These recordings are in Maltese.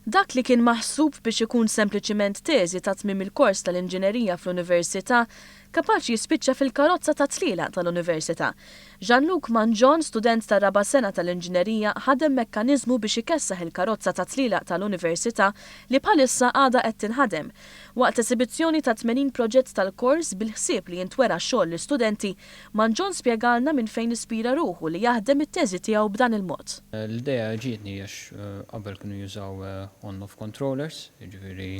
Dak li kien maħsub biex ikun sempliċiment teżi ta' tmiem il-kors tal-inġinerija fl-università, kapaċi jispiċċa fil-karozza tat-tlielaq tal-università. Jean-Luc Mangion, student tar-raba' sena tal-inġinerija, ħadem mekkaniżmu biex ikessaħ il-karozza tat-tlielaq tal-università li bħalissa għadha qed tinħadem. Waqt esibizzjoni ta' 80 proġett tal-kors, bil-ħsieb li jintwera xogħol l-istudenti, Manzon spjegalna minn fejn ispira ruħu li jaħdem it-teżi tiegħu b'dan il-mod. L-idea ġietni għax qabel kienu jużaw on-off controllers, jiġifieri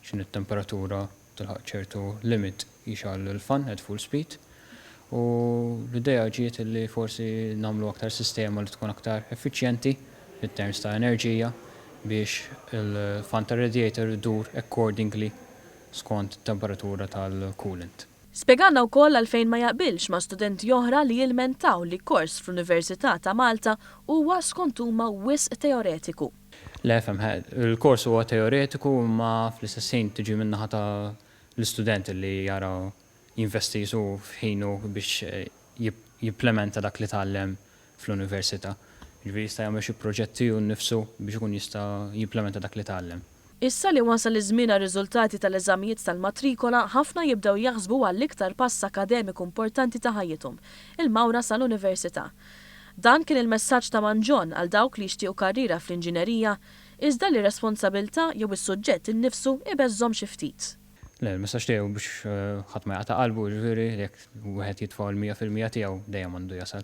x'inhi t-temperatura u tilħaq ċertu limit jixgħal il-fan at full speed. U l-idea ġiet li forsi nagħmlu aktar sistema li tkun aktar effiċjenti in terms ta' enerġija biex il-fan tar-radiator idur accordingly skont it-temperatura tal-coolant. Spjegalna wkoll għalfejn ma jaqbilx ma' studenti oħra li jilmentaw li kors fl-Università ta' Malta huwa skont huma wisq teoretiku. Le, efhem, he, il-kors huwa teoretiku imma fl-istess ħin tiġi min-naħa ta' l-istudent li jara jinvesti su f'ħinu biex jipplementa dak li tgħallem fl-università. Jiġifieri jista' jagħmel xi proġetti hu nnifsu biex ikun jista' jimplementa dak li tgħallem. Issa li wasal iż-żmien għar-riżultati tal-eżamijiet tal-matrikola, ħafna jibdew jaħsbu għall-iktar pass akademiku importanti ta' ħajjithom, il-mawra sal-università. Dan kien il-messaġġ ta' Man John għal dawk li jixtiequ karriera fl-inġinerija, iżda li r-responsabilità jew is-suġġett innifsu jbeżżhom xi ftit. Le, il-messaġġ tiegħi hu biex ħadd ma jaqta' qalbu, jiġifieri jekk wieħed jitfa' l-mija fil-mija tiegħu, dejjem għandu jasal.